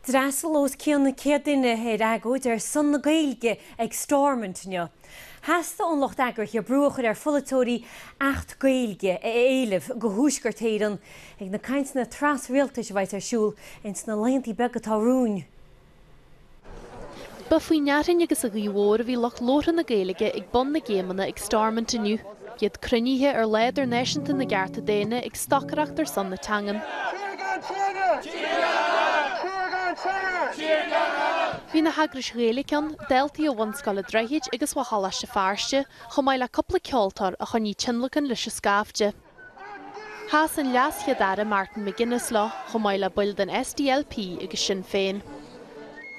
D'fhreastal os cionn céad duine ar agóid ar son na Gaeilge ag Stormont inniu. Theastaigh ón lucht eagraithe brú a chur ar pholaiteoirí Acht Gaeilge a éileamh do Thuaisceart Éireann ag na cainteanna tras-rialtais a bheidh ar siúl ins na laethanta beaga atá romhainn. Ba faoin fhearthainn agus an ghaoth mhór a bhí lucht labhartha na Gaeilge ag bun na gcéimeanna ag Stormont inniu, iad cruinnithe ar lá idirnáisiúnta na gcearta daonna ag stocaireacht ar son na teangan. Bhí na heagrais Ghaeilge ann, daltaí ó Bhunscoil an Droichid agus ó Choláiste Feirste, chomh maith le cúpla ceoltóir a choinnigh tionlacan leis an scaifte. Sheas an LeasChéad-Aire Martin McGuinness leo, chomh maith le baill den SDLP agus Sinn Féin.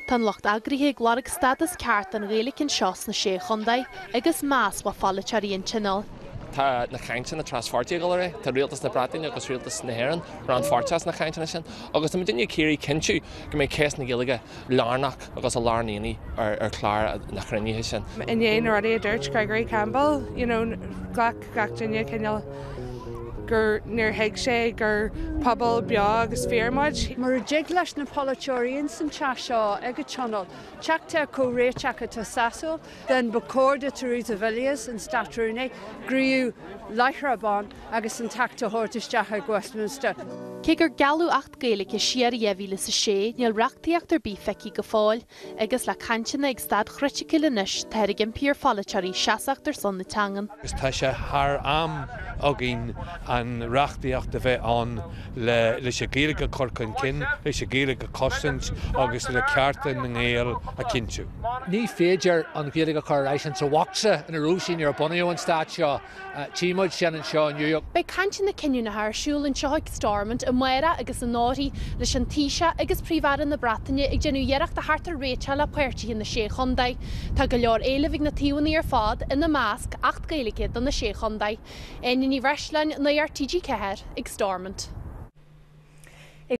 Tá an lucht eagraithe ag lorg stádas ceart don Ghaeilge anseo sna Sé Chontae agus meas ó pholaiteoirí an Tionóil. Tá na cainteanna traspháirtí ag dul ar aghaidh. Tá Rialtas na Breataine agus Rialtas na hÉireann rannpháirteach sna cainteanna sin agus táimid uilig ag iarraidh cinntiú go mbeidh ceist na Gaeilge lárnach agus i lár an aonaigh ar chlár na cruinnithe sin. Ó na rudaí a dúirt Gregory Campbell, you know, ghlac. gach duine cineál gur níor thuig sé gur pobal beo agus fíor muid. Mura dtig leis na polaiteoirí ins an teach seo ag an tionól teacht ar chomhréiteach atá sasúil, then ba chóir do Theresa Villiers, an Státrúnaí, gníomhú láithreach bonn agus an t-acht a thabhairt isteach ag Westminster. Cé gur gealladh acht Gaeilge siar i 2006, níl reachtaíocht ar bith feicthe go fóill. agus le cainteanna ag staid chriticiúil anois táthar ag impí ar pholaiteoirí seasamh ar son na teangan. Is tá sé thar am againn an reachtaíocht a bheith ann le leis an Ghaeilge a chur chun cinn, leis an Ghaeilge a chosaint agus le cearta na nGael a chinntiú. Ní féidir an Ghaeilge a chur ar ais insa bhocsa ina raibh sí nuair a bunaíodh an stát seo. Tchí muid sin anseo inniu. Beidh cainteanna cinniúnacha ar siúl anseo ag Stormont amárach agus anóirthear, leis an Taoiseach agus Príomh-Aire na Breataine ag déanamh iarracht theacht ar réiteach le páirtithe na Sé Chontae. Tá go leor éilimh ag na taobhanna ar fad, ina measc, Acht Gaeilge do na Sé Chontae. Áine Ní Bhreisleáin, Nuacht TG4, ag Stormont.